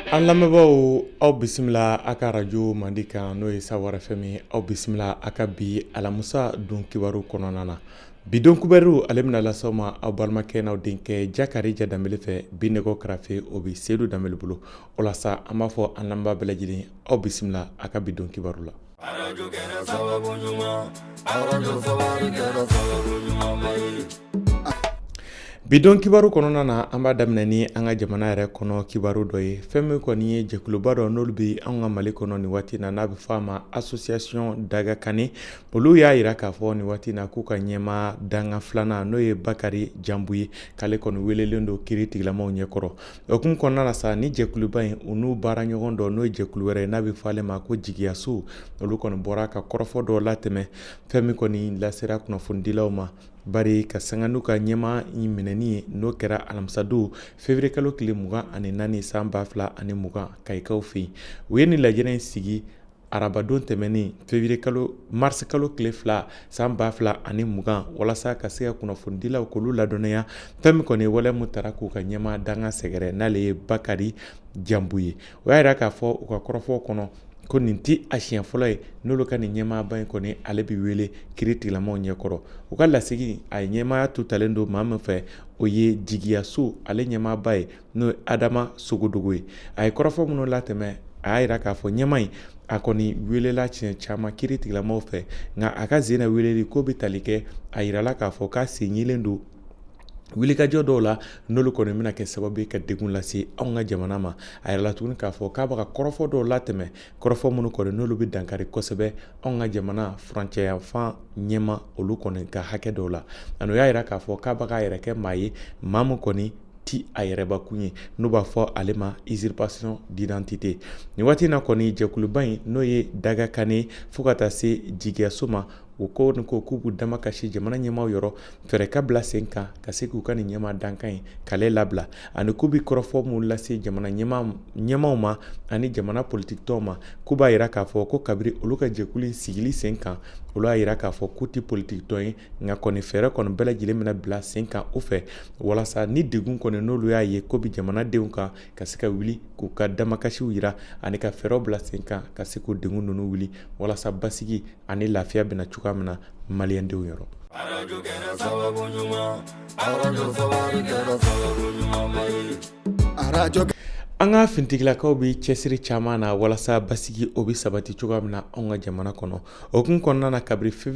An lamɛnbaaw aw bisimila a ka arajo mandi kan n'o ye Sawara FM aw bisimila a ka bi alamusa don kibaru kɔnɔna na Bidon kubaruw ale bɛna las'aw ma aw balimakɛ n'aw denkɛ Jakarija Danbele fɛ bi nɛgɛ karafe o bɛ Sedu Danbele bolo o la sa an b'a fɔ an lamɛnbaa bɛɛ lajɛlen aw bisimila a ka bidon kibaru la bidon kibaru kɔnɔna na an b'a daminɛ ni an ka jamana yɛrɛ kɔnɔ kibaru dɔ ye fɛn min kɔni ye jɛkuluba dɔ n'olu bɛ an ka mali kɔnɔ nin waati na n'a bɛ fɔ a ma association Dagakane Olu y'a jira k'a fɔ nin waati in na k'u ka ɲɛmaa dankan filanan n'o ye Bakari Janbu ye k'ale kɔni welelen don kiri tigɛlamaw ɲɛkɔrɔ o hukumu kɔnɔna na sa ni jɛkuluba in u n'u baara ɲɔgɔn dɔ n'o ye jɛkulu wɛrɛ ye n'a bɛ fɔ ale ma ko jigiyaso olu kɔni bɔra ka kɔrɔfɔ dɔ latɛmɛ fɛn min kɔni lasera kunnafonidilaw ma bari ka sanga n'u ka ɲɛmaa in minɛni ye n'o kɛra alamisadon février kalo tile mugan ani naani san ba fila ani mugan Kayikaw fɛ yen u ye nin lajɛrɛ in sigi arabadon tɛmɛnen février kalo marisi kalo tile fila san ba fila ani mugan walasa ka se ka kunnafonidilaw k'olu ladɔnniya fɛn min kɔni wale min taara k'u ka ɲɛmaa dankan sɛgɛrɛ n'ale ye Bakari Janbu ye o y'a jira k'a fɔ u ka kɔrɔfɔ kɔnɔ ko nin tɛ a siɲɛ fɔlɔ ye n'olu ka nin ɲɛmaaba in kɔni ale bɛ wele kiri tigɛlamaw ɲɛkɔrɔ u ka lasigi a ɲɛmaaya tun talen don maa min fɛ o ye jigiyaso ale ɲɛmaaba ye n'o ye adama sogodogo ye a ye kɔrɔfɔ minnu latɛmɛ a y'a jira k'a fɔ ɲɛmaa in a kɔni welela siɲɛ caman kiri tigilamaw fɛ nka a ka sen na weleli ko bɛ tali kɛ a yirala k'a fɔ k'a sen yelen don wilikajɔ dɔw la n'olu kɔni bɛna kɛ sababu ye ka degun lase anw ka jamana ma a yɛrɛ la tuguni k'a fɔ k'a bɛ ka kɔrɔfɔ dɔw latɛmɛ kɔrɔfɔ minnu kɔni n'olu bɛ dankari kosɛbɛ anw ka jamana furancɛ yanfan ɲɛmaa olu kɔni ka hakɛ dɔw la ani o y'a jira k'a fɔ k'a bɛ k'a yɛrɛ kɛ maa ye maa min kɔni ti a yɛrɛbakun ye n'u b'a fɔ ale ma usurpation d'identité nin waati na kɔni jɛkuluba in n'o ye Dagakane fo ka taa se jigiyaso ma u ko k'u b'u damakasi jamana ɲɛmaaw yɔrɔ fɛɛrɛ ka bila sen kan ka se k'u ka nin ɲɛmaa dankan in k'ale labila ani k'u bɛ kɔrɔfɔ min lase jamana ɲɛmaaw ma ani jamana politikitɔnw ma k'u b'a jira k'a fɔ ko kabiri olu ka jɛkulu in sigili sen kan olu y'a jira k'a fɔ k'u tɛ politikitɔn ye nka kɔni fɛɛrɛ kɔni bɛɛ lajɛlen mina bila sen kan o fɛ walasa ni degun kɔni n'olu y'a ye ko bɛ jamanadenw kan ka se ka wuli k'u ka damakasiw jira ani ka fɛɛrɛw bila sen kan ka se k'o degun ninnu wuli walasa basigi ani lafiya bɛna cogoya min na maliyɛndenw yɔrɔ an ka fintigilakaw bɛ cɛsiri caman na walasa basigi o bɛ sabati cogoya min na an ka jamana kɔnɔ o kun kɔnɔna na kabiri fi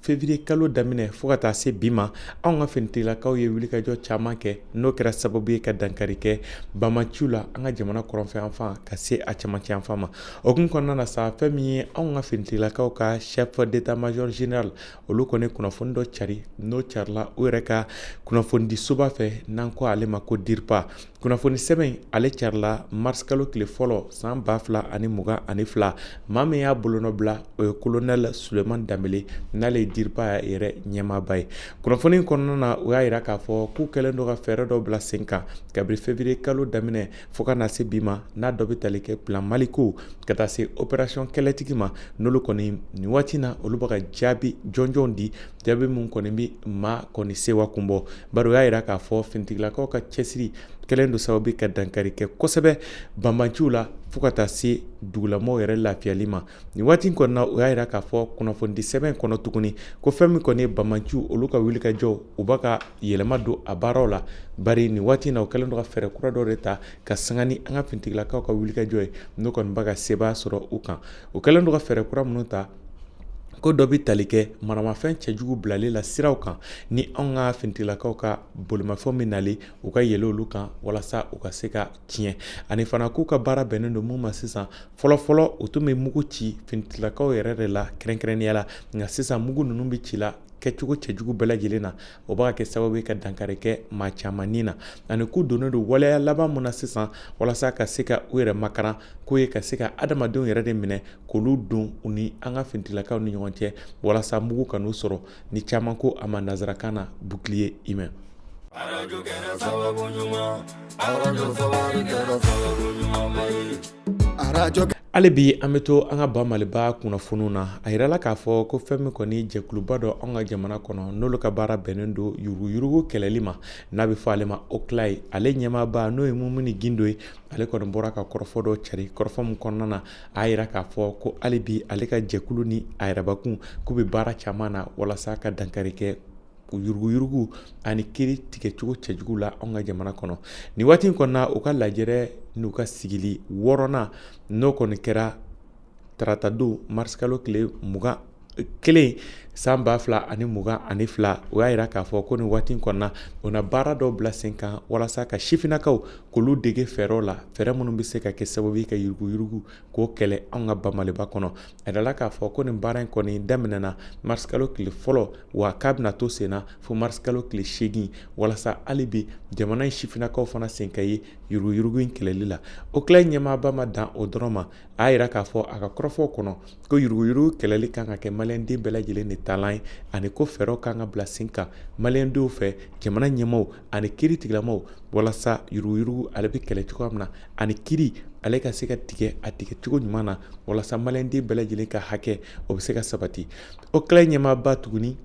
février kalo daminɛ fɔɔ ka taa se bi ma anw ka finitigilakaw ye wulikajɔ caaman kɛ n'o kɛra sababu ye ka dankari kɛ banbanciw la an ka jamana kɔrɔnfɛ yanfan ka se a camancɛ yanfan ma o kun kɔnɔna na sa fɛn min ye anw ka finitigilakaw ka chef d'état major général olu kɔni kunnafoni dɔ cari n'o carila u yɛrɛ ka kunnafonidisoba fɛ n'an ko ale ma ko dirpa kunnafoni sɛbɛn ale carila marisikalo tile fɔlɔ san ba fila ani mugan ani fila maa min y'a bolonɔ bila o ye kolonɛl suleman danbele n'ale ye dirpa yɛrɛ ɲɛmaaba ye kunnafoni kɔnɔna na o y'a yira k'a fɔ k'u kɛlen don ka fɛɛrɛ dɔ bila sen kan kabiri fevriye kalo daminɛ fɔɔ ka na se bi ma n'a dɔ bɛ tali kɛ plan maliko ka taa se operasiyɔn kɛlɛtigi ma n'olu kɔni nin waati na olu bɛ ka jaabi jɔnjɔn di jaabi min kɔni bɛ maa kɔni sewa kun bɔ bari u y'a jira k'a fɔ finitigilakaw ka cɛsiri kɛlen don sababu ka dankari kɛ kosɛbɛ banbanci la fo ka taa se dugulamɔgɔ yɛrɛ lafiyali ma nin waati kɔnɔna o y'a jira k'a fɔ kunnafonidi sɛbɛn kɔnɔ tuguni ko fɛn min kɔni ye banbanciw olu ka wulikajɔ u bɛ ka yɛlɛma don a baaraw la bari nin waati na u kɛlen don ka fɛɛrɛ kura dɔ de ta ka sanga ni an ka fintigilakaw ka wulikajɔ ye n'o kɔni bɛ ka sebaaya sɔrɔ u kan u kɛlen don ka fɛɛrɛ kura minnu ta ko dɔ bɛ tali kɛ maramafɛn cɛjugu bilali la siraw kan ni anw ka finitigilakaw ka bolimafɛn min nalen u ka yɛlɛ olu kan walasa u ka se ka tiɲɛ ani fana k'u ka baara bɛnnen don mun ma sisan fɔlɔfɔlɔ u tun bɛ mugu ci finitigilakaw yɛrɛ de la kɛrɛnkɛrɛnnenya la nka sisan mugu ninnu bɛ ci la kɛcogo cɛjugu bɛɛ lajɛlen na o bɛ ka kɛ sababu ye ka dankari kɛ maa caman ni na ani k'u donnen don waleya laban mun na sisan walasa ka se ka u yɛrɛ makaran k'o ye ka se ka adamadenw yɛrɛ de minɛ k'olu don u ni an ka fintigilakaw ni ɲɔgɔn cɛ walasa mugu kan'u sɔrɔ ni caman ko a ma nanzarakan na bouclier humain arajo kɛra sababu ɲuman arajo sawari kɛra sababu ɲuman ba ye arajo hali bi an bɛ to an ka ba maliba kunnafoniw na a yirala k'a fɔ ko fɛn min kɔni jɛkuluba dɔ an ka jamana kɔnɔ n'olu ka baara bɛnnen don yuruguyurugu kɛlɛli ma n'a bɛ fɔ ale ma oclei ale ɲɛmaaba n'o ye mumuni gindo ye ale kɔni bɔra ka kɔrɔfɔ dɔ cari kɔrɔfɔ min kɔnɔna na a yira k'a fɔ ko hali bi ale ka jɛkulu ni a yɛrɛbakun k'u bɛ baara caman na walasa ka dankari kɛ yuruguyurugu ani kiiri tigɛcogo cɛjugu la anw ka jamana kɔnɔ nin waati in kɔnɔna u ka lajɛrɛ n'u ka sigili wɔɔrɔnan n'o kɔni kɛra taratadon marisikalo tile mugan kelen san ba fila ani mugan ani fila o y'a yira k'a fɔ ko nin waati kɔnɔna o na baara dɔw bila sen kan walasa ka sifinnakaw k'olu dege fɛɛrɛw la fɛɛrɛ minnu bɛ se ka kɛ sababu ye ka yuruguyurugu k'o kɛlɛ anw ka ba maliba kɔnɔ a yirala k'a fɔ ko nin baara in kɔni daminɛna marisikalo tile fɔlɔ wa k'a bɛna to sen na fo marisikalo tile seegin walasa hali bi jamana in sifinnakaw fana sen ka ye yuruguyurugu in kɛlɛli la oclei ɲɛmaaba ma dan o dɔrɔn ma a yira k'a fɔ a ka kɔrɔfɔw kɔnɔ ko yuruguyurugu kɛlɛli kan ka kɛ maliyɛnden bɛɛ lajɛlen de taalan ye ani ko fɛɛrɛw kan ka bila sen kan maliyɛndenw fɛ jamana ɲɛmaaw ani kiri tigilamaw walasa yuruguyurugu ale bɛ kɛlɛ cogoya min na ani kiri ale ka se ka tigɛ a tigɛ cogo ɲuman na walasa maliyɛnden bɛɛ lajɛlen ka hakɛ o bɛ se ka sabati oclei ɲɛmaaba tuguni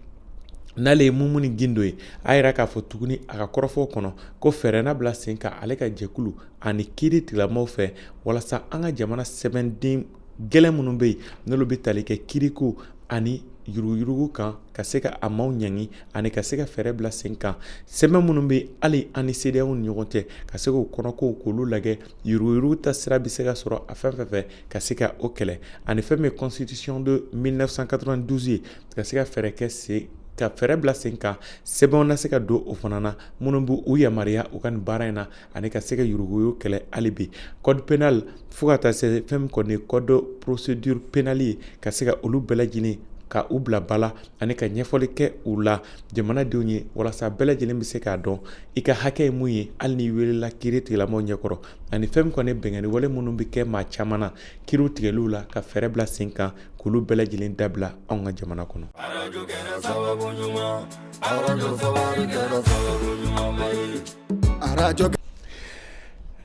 n'ale ye mumuni gindo ye a yira k'a fɔ tuguni a ka kɔrɔfɔw kɔnɔ ko fɛɛrɛ na bila sen kan ale ka jɛkulu ani kiiri tigilamaw fɛ walasa an ka jamana sɛbɛnden gɛlɛn minnu bɛ yen n'olu bɛ tali kɛ kiiriko ani yuruguyurugu kan ka se ka a maaw ɲangi ani ka se ka fɛɛrɛ bila sen kan sɛbɛn minnu bɛ hali an ni cedeao ni ɲɔgɔn cɛ ka se k'o kɔnɔkow k'olu lajɛ yuruguyurugu ta sira bɛ se ka sɔrɔ a fɛn fɛn fɛ ka se ka o kɛlɛ ani fɛn min ye constitution de 1992 ye ka se ka fɛɛrɛ kɛ sen ka fɛɛrɛ bila sen kan sɛbɛnw na se ka don o fana na minnu b'u u yamaruya u ka nin baara in na ani ka se ka yuruguyurugu kɛlɛ hali bi code pénal fo ka taa se fɛn min kɔni code procédure pénale ye ka se ka olu bɛɛ lajɛlen ka u bila bala ani ka ɲɛfɔli kɛ u la jamanadenw ye walasa bɛɛ lajɛlen bɛ se k'a dɔn i ka hakɛ ye mun ye hali n'i welela kiiri tigilamaw ɲɛkɔrɔ ani fɛn min kɔni binkanni wale minnu bɛ kɛ maa caman na kiiriw tigɛliw la ka fɛɛrɛ bila sen kan k'olu bɛɛ lajɛlen dabila anw ka jamana kɔnɔ arajo kɛra sababu ɲuman arajo sababu kɛra sababu ɲuman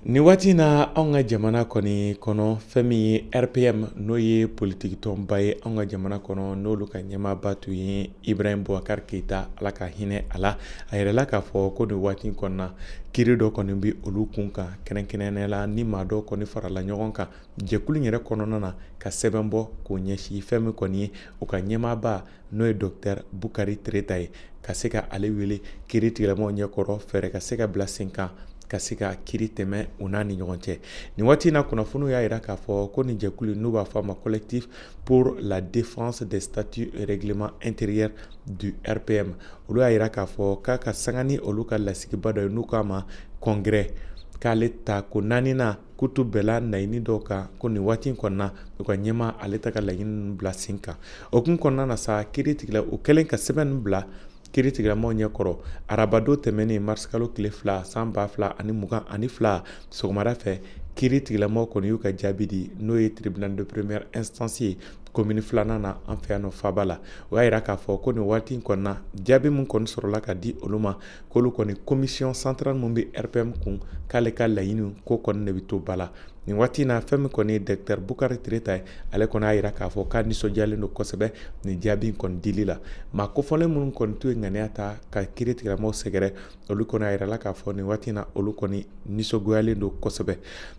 Nin waati in na anw ka jamana kɔni kɔnɔ fɛn min ye rpm n'o ye politikitɔnba ye an ka jamana kɔnɔ n'olu ka ɲɛmaaba tun ye ibrahim bubakar keyita ala ka hinɛ a la a yirala k'a fɔ ko nin waati kɔnɔna kiri dɔ kɔni bɛ olu kun kan kɛrɛnkɛrɛn la ni maa dɔ kɔni farala ɲɔgɔn kan jɛkulu yɛrɛ kɔnɔna na ka sɛbɛn bɔ k'o ɲɛsin fɛn min kɔni ye u ka ɲɛmaaba n'o ye dɔkitɛr bukari tereta ye ka se ka ale wele kiri tigilamaw ɲɛkɔrɔ fɛɛrɛ ka se ka bila sen kan ka se ka kiri tɛmɛ u n'a ni ɲɔgɔn cɛ nin waati in na kunnafoniw y'a yira k'a fɔ ko nin jɛkulu n'u b'a fɔ a ma collectif pour la défense des statuts et règlements intérieurs du rpm olu y'a yira k'a fɔ k'a ka sanga ni olu ka lasigiba dɔ ye n'u k'a ma congrès k'ale ta ko naaninan k'u tun bɛnna laɲini dɔw kan ko nin waati in kɔnɔna u ka ɲɛmaa ale tɛ ka laɲini bila sen kan o kun kɔnɔna na sa kiri tigila u kɛlen ka sɛbɛn bila kiri tigilamaw ɲɛkɔrɔ arabadon tɛmɛnen marisikalo tile fila san ba fila ani mugan ani fila sɔgɔmada fɛ kiri tigilamaw kɔni y'u ka jaabi di n'o ye tribunal de première instance ye komini filanan na an fɛ yan nɔ faaba la o y'a yira k'a fɔ ko nin waati in kɔnɔna jaabi min kɔni sɔrɔla ka di olu ma k'olu kɔni commission centrale min bɛ RPM kun k'ale ka laɲini ko kɔni de bɛ to ba la nin waati in na fɛn min kɔni ye docteur bukari tireta ye ale kɔni y'a yira k'a fɔ k'a nisɔndiyalen don kosɛbɛ nin jaabi in kɔni dili la maa kofɔlen minnu kɔni tun ye ŋaniya ta ka kiri tigɛlamaw sɛgɛrɛ olu kɔni a yirala k'a fɔ nin waati in na olu kɔni nisɔngoyalen don kosɛbɛ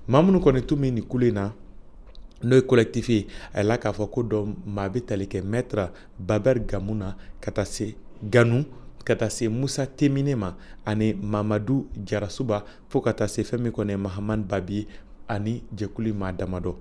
maa minnu kɔni tun bɛ nin kulu in na n'o ye collectif ye a yirala k'a fɔ ko dɔ maa bɛ tali kɛ maître Babɛri Gamu na ka taa se Ganu ka taa se Musa Temine ma ani Mamadu Jarasuba fo ka taa se fɛn min kɔni ye Mahamani Babi ye ani jɛkulu maa damadɔ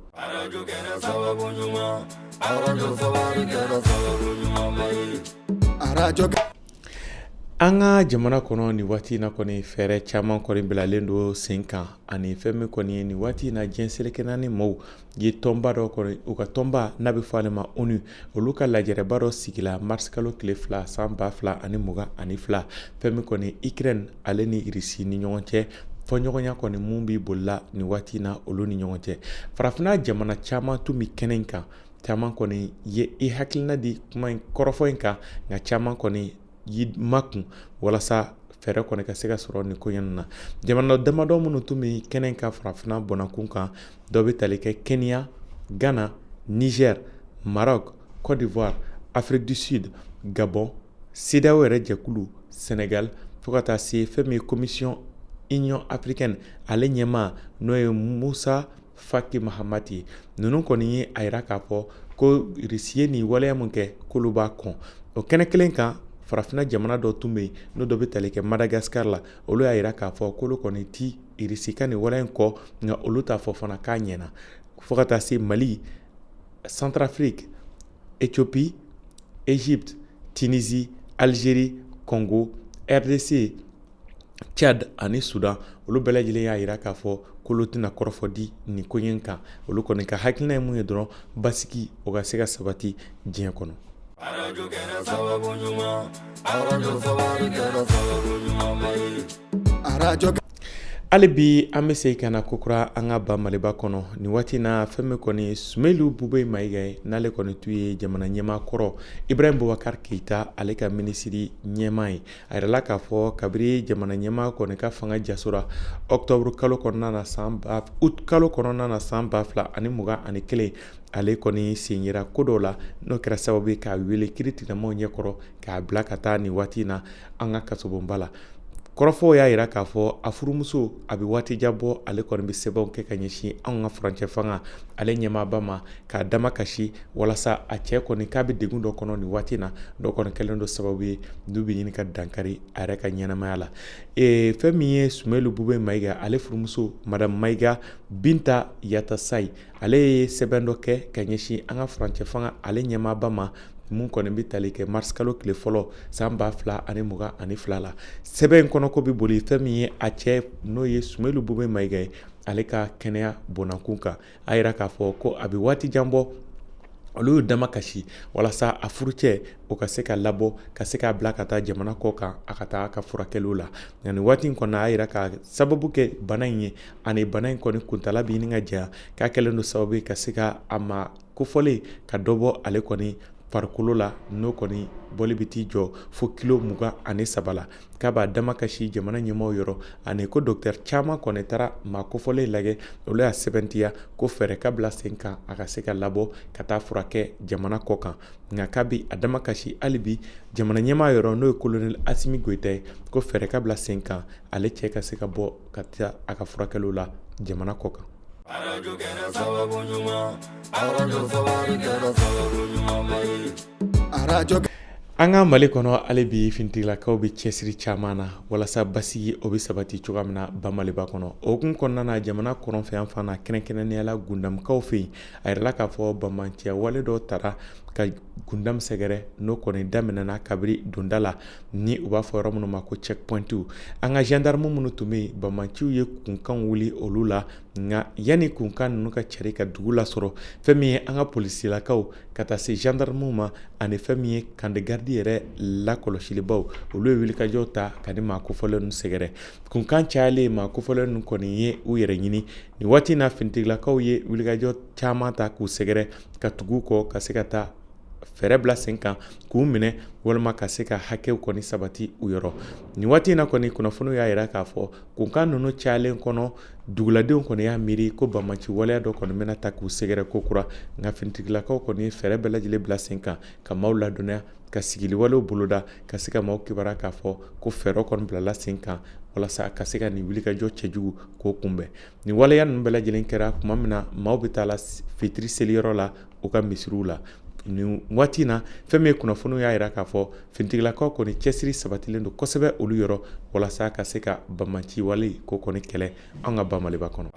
An ka jamana kɔnɔ ni waati in na kɔni fɛɛrɛ caman kɔni bilalen don sen kan ani fɛn min kɔni ye nin waati in na diɲɛ seleke naani maaw ye tɔnba dɔ kɔni u ka tɔnba n'a bɛ fɔ ale ma ONU olu ka lajɛrɛba dɔ sigila mars kalo tile fila san ba fila ani mugan ani fila fɛn min kɔni Ukraine ale ni Russie ni ɲɔgɔn cɛ fɔɲɔgɔnya kɔni min bɛ boli la nin waati in na olu ni ɲɔgɔn cɛ farafinna jamana caman tun bɛ kɛnɛ in kan caman kɔni ye i hakilina di kuma in kɔrɔfɔ in kan nka caman kɔni y'i makun walasa fɛɛrɛ kɔni ka se ka sɔrɔ nin ko in na jamana damadɔ minnu tun bɛ kɛnɛ kan farafinna bɔnakun kan dɔ bɛ tali kɛ kenya ghana niger maroc cote d'ivoire afrique du sud gabon cedeao yɛrɛ jɛkulu senegal fo ka taa se fɛn min ye commission union africaine ale ɲɛmaa n'o ye musa faki mahamati ye ninnu kɔni ye a yira k'a fɔ ko irisi ye nin waleya min kɛ k'olu b'a kɔn o kɛnɛ kelen kan farafinna jamana dɔ tun bɛ yen n'o dɔ bɛ tali kɛ madagascar la olu y'a yira k'a fɔ k'olu kɔni ti irisi ka nin waleya in kɔn nka olu t'a fɔ fana k'a ɲɛna fo ka taa se mali centrafrique ethiopie egypte tunisie algérie congo rdc Tchad ani Sudan olu bɛɛ lajɛlen y'a yira k'a fɔ k'olu tɛna kɔrɔfɔ di nin ko in kan olu kɔni ka hakilina ye mun ye dɔrɔn basigi o ka se ka sabati diɲɛ kɔnɔ hali bi an bɛ segin ka na kokura an ka ba Maliba kɔnɔ nin waati in na fɛn min kɔni Sumeyilu Bubeyi Mayiga ye n'ale kɔni tun ye jamana ɲɛmaa kɔrɔ Ibrahim Bubakari Keyita ale ka minisiri ɲɛmaa ye a yirala k'a fɔ kabiri jamana ɲɛmaa kɔni ka fanga jasora octobre kalo kɔnɔna na août kalo kɔnɔna na san ba fila ani mugan ani kelen ale kɔni sen yera ko dɔw la n'o kɛra sababu ye k'a wele kiri tigilamaw ɲɛkɔrɔ k'a bila ka taa nin waati na an ka kasobonba la kɔrɔfɔw y'a yira k'a fɔ a furumuso a bɛ waati jan bɔ ale kɔni bɛ sɛbɛnw kɛ ka ɲɛsin anw ka furancɛ fanga ale ɲɛmaaba ma k'a damakasi walasa a cɛ kɔni k'a bɛ degun dɔ kɔnɔ nin waati na dɔ kɔni kɛlen don sababu ye n'u bɛ ɲini ka dankari a yɛrɛ ka ɲɛnamaya la e, fɛn min ye sumelu bube mayiga ale furumuso madame mayiga binta yatasai ale ye sɛbɛn dɔ kɛ ka ɲɛsin an ka furancɛ fanga ale ɲɛmaaba ma mun kɔni bɛ tali kɛ marisikalo tile fɔlɔ san ba fila ani mugan ani fila la sɛbɛn in kɔnɔko bɛ boli fɛn min ye a cɛ n'o ye sumelu bube mayiga ye ale ka kɛnɛya bɔnakun kan a yira k'a fɔ ko a bɛ waati jan bɔ olu y'u damakasi walasa a furucɛ o ka se ka labɔ ka se k'a bila ka taa jamana kɔ kan a ka taa ka furakɛliw la nka nin waati in kɔnɔ a y'a yira ka sababu kɛ bana in ye ani bana in kɔni kuntala bɛ ɲini ka janya k'a kɛlen don sababu ye ka se ka a maa kofɔlen ka dɔ bɔ ale kɔni farikolo la n'o kɔni bɔli bɛ t'i jɔ fo kilo mugan ani saba la k'a b'a damakasi jamana ɲɛmaaw yɔrɔ ani ko docteur caman kɔni taara maa kofɔlen lajɛ olu y'a sɛbɛntiya ko fɛɛrɛ ka bila sen kan a ka se ka labɔ ka taa furakɛ jamana kɔ kan nka k'a bi a damakasi hali bi jamana ɲɛmaa yɔrɔ n'o ye kolonɛli asimi goyita ye ko fɛɛrɛ ka bila sen kan ale cɛ ka se ka bɔ ka taa a ka furakɛliw la jamana kɔ kan Arajo kɛra sababu ɲuman arajo sababu kɛra sababu ɲuman ba ye arajo an ka mali kɔnɔ hali bi finitigilakaw bɛ cɛsiri caman na walasa basigi o bɛ sabati cogoya min na ba maliba kɔnɔ o hukumu kɔnɔna na jamana kɔrɔnfɛ yan fan na kɛrɛnkɛrɛnnenyala gundamukaw fɛ yen a yirala k'a fɔ banbanciya wale dɔ taara ka gundamu sɛgɛrɛ n'o kɔni daminɛna kabiri donda la ni u b'a fɔ yɔrɔ minnu ma ko checkpointiw an ka gendarme minnu tun bɛ yen banbanciw ye kunkan wuli olu la nka yanni kunkan ninnu ka cari ka dugu lasɔrɔ fɛn min ye an ka polisilakaw ka taa se gendarmew ma ani fɛn min ye kandegaridi yɛrɛ lakɔlɔsilibaw olu ye wulikajɔ ta ka nin maa kofɔlen ninnu sɛgɛrɛ kunkan cayalen maa kofɔlen ninnu kɔni ye u yɛrɛ ɲini nin waati in na finitigilakaw ye wulikajɔ caman ta k'u sɛgɛrɛ ka tugu kɔ ka se ka taa fɛɛrɛ bila sen kan k'u minɛ walima ka se ka hakɛw kɔni sabati u yɔrɔ nin waati in na kɔni kunnafoniw y'a yira k'a fɔ kunkan ninnu cayalen kɔnɔ duguladenw kɔni y'a miiri ko banbanci waleya dɔ kɔni bɛna ta k'u sɛgɛrɛ ko kura nka finitigilakaw kɔni ye fɛɛrɛ bɛɛ lajɛlen bila sen kan ka maaw ladɔnniya ka sigiliwalew boloda ka se ka maaw kibaruya k'a fɔ ko fɛɛrɛ kɔni bilala sen kan walasa ka se ka nin wulikajɔ cɛjugu k'o kunbɛn Nin waleya ninnu bɛɛ lajɛlen kɛra tuma min na maaw bɛ taa la fitiri seliyɔrɔ la u ka misiriw la nin waati in na fɛn min ye kunnafoniw y'a yira k'a fɔ finitigilakaw kɔni cɛsiri sabatilen don kosɛbɛ olu yɔrɔ walasa ka se ka banbanci wale ko kɔni kɛlɛ an ka ba maliba kɔnɔ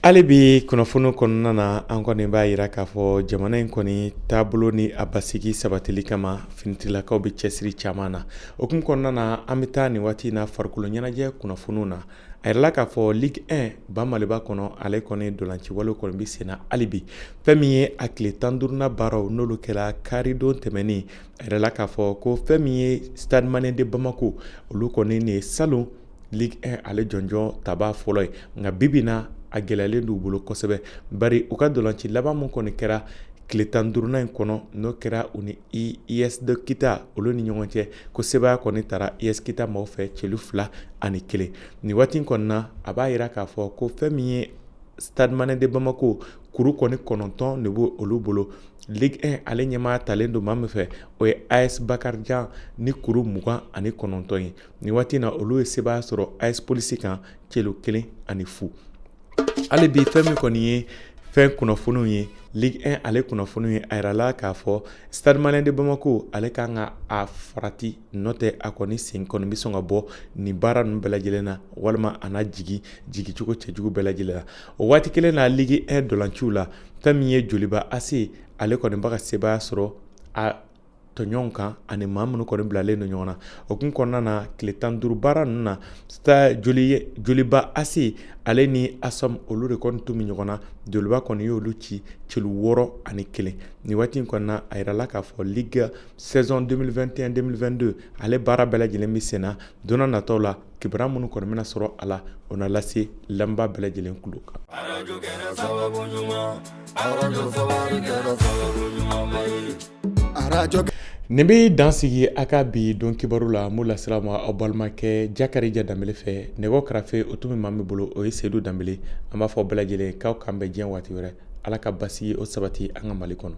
Hali bi kunnafoniw kɔnɔna na an kɔni b'a yira k'a fɔ jamana in kɔni taabolo ni a basigi sabatili kama finitigilakaw bɛ cɛsiri caman na o kun kɔnɔna na an bɛ taa nin waati in na farikolo ɲɛnajɛ kunnafoniw na a yirala k'a fɔ Ligue 1 ba Maliba kɔnɔ ale kɔni ntolaciwalew kɔni bɛ senna hali bi fɛn min ye a tile tan duurunan baaraw n'olu kɛra karidon tɛmɛnen a yirala k'a fɔ ko fɛn min ye Stade Malien de Bamako olu kɔni nin ye salon Ligue 1 ale jɔnjɔn tabaa fɔlɔ ye nka bi bi in na a gɛlɛyalen don u bolo kosɛbɛ bari u ka ntolaci laban min kɔni kɛra tile tan duurunan in kɔnɔ n'o kɛra u ni US de Kita olu ni ɲɔgɔn cɛ ko sebaaya kɔni tara US Kita maaw fɛ celu fila ani kelen nin waati in kɔni na a b'a yira k'a fɔ ko fɛn min ye Stade Malien de Bamako kuru kɔni kɔnɔntɔn de b'olu bolo Ligue 1 ale ɲɛmaaya talen don maa min fɛ o ye AS Bakarijan ni kuru mugan ani kɔnɔntɔn ye nin waati in na olu ye sebaaya sɔrɔ AS polisi kan celu kelen ani fu hali bi fɛn min kɔni ye fɛn kunnafoniw ye Ligue 1 ale kunnafoniw ye a yirala k'a fɔ Stade Malien de Bamako ale kan ka a farati n'o tɛ a kɔni sen kɔni bɛ sɔn ka bɔ nin baara ninnu bɛɛ lajɛlen na walima a na jigi jigicogo cɛjugu bɛɛ lajɛlen la o waati kelen na Ligue 1 ntolaciw la fɛn min ye Joliba AC ale kɔni bɛ ka sebaaya sɔrɔ a tɔɲɔgɔnw kan ani maa minnu kɔni bilalen don ɲɔgɔn na o kun kɔnɔna na tile tan duuru baara ninnu na joliba AC ale ni ASOM olu de kɔni tun bɛ ɲɔgɔn na joliba kɔni y'olu ci celu wɔɔrɔ ani kelen ni waati kɔnɔna a yirala k'a fɔ Ligue saison 2021-2022 ale baara bɛɛ lajɛlen bɛ sen na don nataw la kibaru minnu kɔni bɛna sɔrɔ a la o na lase lamɛnbaa bɛɛ lajɛlen tulo kan Nin bɛ dan sigi a ka bi don kibaru la min lasera a ma aw balimakɛ jakarija danbele fɛ nɛgɛw karafe o tun bɛ maa min bolo o ye seyidu danbele an b'a fɔ bɛɛ lajɛlen k'aw k'an bɛn diɲɛ waati wɛrɛ ala ka basigi o sabati an ka mali kɔnɔ